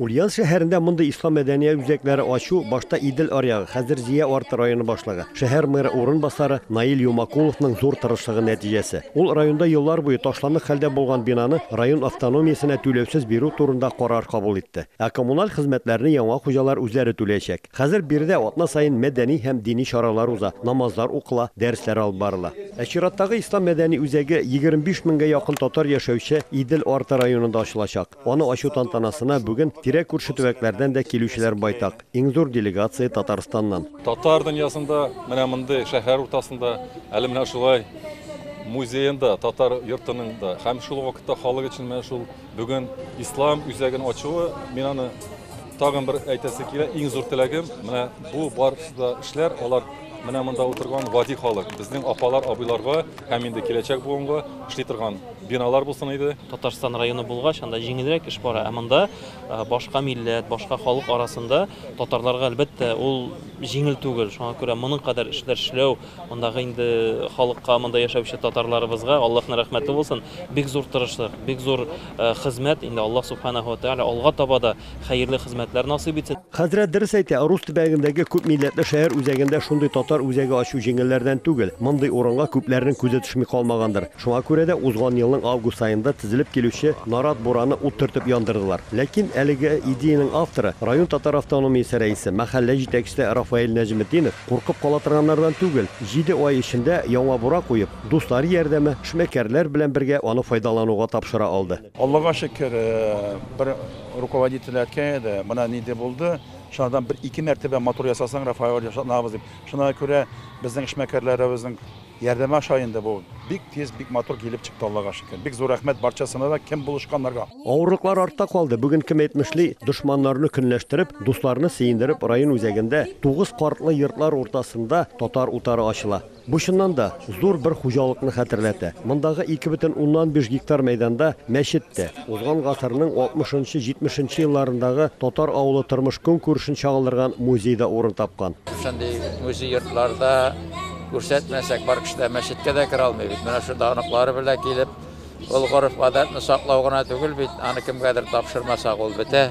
Ульяновск шәһәрендә мондый ислам мәдәният үзәкләре ачу башта Идел аръягы, хәзер Зөя арты районы башлыгы, шәһәр мэры урынбасары Наил Юмакуловның зур тырышлыгы нәтиҗәсе. Ул районда еллар буе ташландык хәлдә булган бинаны район автономиясенә түләүсез бирү турында карар кабул итте. Ә коммуналь хезмәтләрне яңа хуҗалар үзләре түләячәк. Хәзер биредә атна саен мәдәни һәм дини чаралар уза, намазлар укыла, дәресләр алып барыла. Ә чираттагы ислам мәдәни үзәге 25 меңгә якын татар яшәүче Идел арты районында ачылачак. Аны ачу тантанасына бүген тирә-күрше төбәкләрдән дә килүчеләр байтак, иң зур делегация Татарстаннан. Татар дөньясында менә мондый шәһәр уртасында, әле менә шулай музеенда, татар йортының да һәм шул ук вакытта халык өчен менә шул бүген Ислам үзәген ачуы, мин аны тагын бер әйтәсе килә, иң зур теләгем, менә бу барысы да эшләр, алар менә монда утырган гади халык, безнең апалар, абыйларга һәм инде киләчәк буынга эшли торган Биналар булсын иде. Татарстан районы булгач, анда җиңелрәк эш бара, ә монда башка милләт, башка халык арасында татарларга, әлбәттә, ул җиңел түгел. Шуңа күрә моның кадәр эшләр эшләү, мондагы инде халыкка, монда яшәүче татарларыбызга Аллаһның рәхмәте булсын, бик зур тырышлык, бик зур хезмәт. Инде Аллаһ Субханаһу ва Тәгалә алга таба да хәерле хезмәтләр насыйп итсен. Хәзрәт дөрес әйтә, Орус төбәгендәге күп милләтле шәһәр үзәгендә шундый татар үзәге ачу җиңелләрдән түгел. Мондый урынга күпләрнең күзе төшми калмагандыр. Шуңа күрә дә узган елның август аенда тезелеп килүче Нарат бураны ут төртеп яндырдылар. Ләкин әлеге идеянең авторы, район татар автономиясе рәисе, мәхәллә җитәкчесе Рафаэль Нәҗметдинов куркып кала торганнардан түгел, җиде ай эчендә яңа бура куеп, дуслары ярдәме, эшмәкәрләр белән бергә аны файдалануга тапшыра алды. Аллага шөкер, бер руководитель әткәй иде, менә нинди булды, шуңардан бер-ике мәртәбә матур ясасаң, Рафаэль, ышанабыз дип. Шуңа күрә безнең эшмәкәрләребезнең ярдәме аша инде бу бик тиз, бик матур килеп чыкты, Аллага шөкер. Бик зур рәхмәт барчасына да, кем булышканнарга. Авырлыклар артта калды, бүген кем әйтмешли, дошманнарны көнләштереп, дусларны сөендереп район үзәгендә, тугыз картлы йортлар уртасында татар утары ачыла. Бу чыннан да зур бер хуҗалыкны хәтерләтә. Мондагы ике бөтен уннан биш гектар мәйданда мәчет тә, узган гасырның алтмышынчы, җитмешенче елларындагы татар авылы тормыш-көнкүрешен чагылдырган музей да урын тапкан. Шушындый музей йортларда күрсәтмәсәк, бар кеше дә мәчеткә дә керә алмый бит. Менә шунда оныклары белән килеп, ул гореф-гадәтне саклау гына түгел бит, аны кемгәдер тапшырмасак, ул бетә.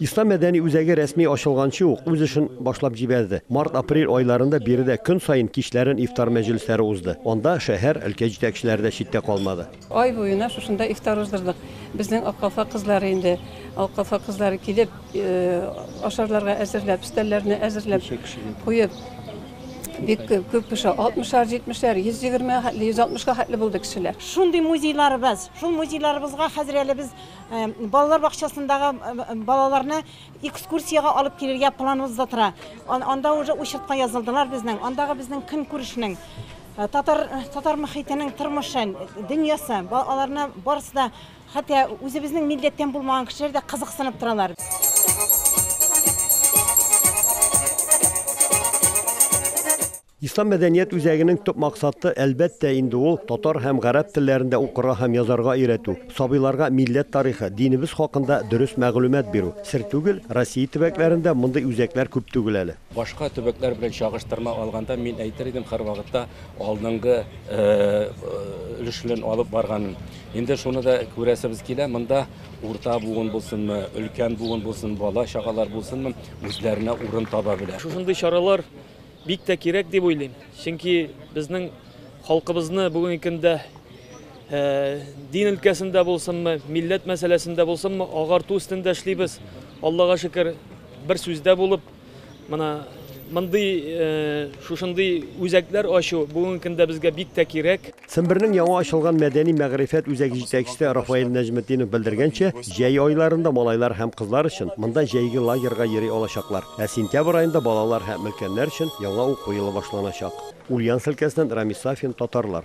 Ислам мәдәни үзәге рәсми ачылганчы ук үз эшен башлап җибәрде. Март-апрель айларында биредә көн саен кичләрен ифтар мәҗлесләре узды. Анда шәһәр, өлкә җитәкчеләре дә читтә калмады. Ай буена шушында ифтар уздырдык. Безнең Аккалфак кызлары инде, Аккалфак кызлары килеп, ашарларга әзерләп, өстәлләрне әзерләп куеп, бик күп кеше, 60-ар, 70-ләр, 120, 160 га хәтле булды кешеләр. Шундый музейларыбыз, шул музейларыбызга хәзер әле без Балалар бакчасындагы балаларны экскурсиягә алып килергә планыбыз да тора. Анда уже учетка язылдылар безнең. Андагы безнең көн күрешнең татар татар мөхитенең тормышы, дөньясы, аларны барысы да хәтта үзебезнең милләттән булмаган кешеләр дә кызыксынып торалар. Ислам мәдәният үзәгенең төп максаты, әлбәттә инде, ул, татар һәм гарәп телләрендә укырга һәм язарга өйрәтү, сабыйларга милләт тарихы, динебез хакында дөрес мәгълүмат бирү. Сер түгел, Россия төбәкләрендә мондый үзәкләр күп түгел әле. Башка төбәкләр белән чагыштырма алганда, мин әйтер идем, һәрвакытта алдынгы өлеш белән алып барганын. Инде шуны да күрәсебез килә, монда урта буын булсынмы, өлкән буын булсын, бала-чагалар булсынмы, үзләренә урын таба белә. Шушындый чаралар Бик тә кирәк дип уйлыйм. Чөнки безнең халкыбызны бүгенге көндә дин өлкәсендә булсынмы, милләт мәсьәләсендә булсынмы, агарту өстендә эшлибез. Аллага шөкер, бер сүздә булып, мына мондый шушындый үзәкләр ачу бүгенге көндә безгә бик тә кирәк. Сембернең яңа ачылган мәдәни-мәгърифәт үзәге җитәкчесе Рафаэль Нәҗметдинов белдергәнчә, җәй айларында малайлар һәм кызлар өчен монда җәйге лагерьга йөри алачаклар, ә сентябрь аенда балалар һәм өлкәннәр өчен яңа уку елы башланачак. Ульяновск өлкәсеннән Рамис Сафин, Татарлар.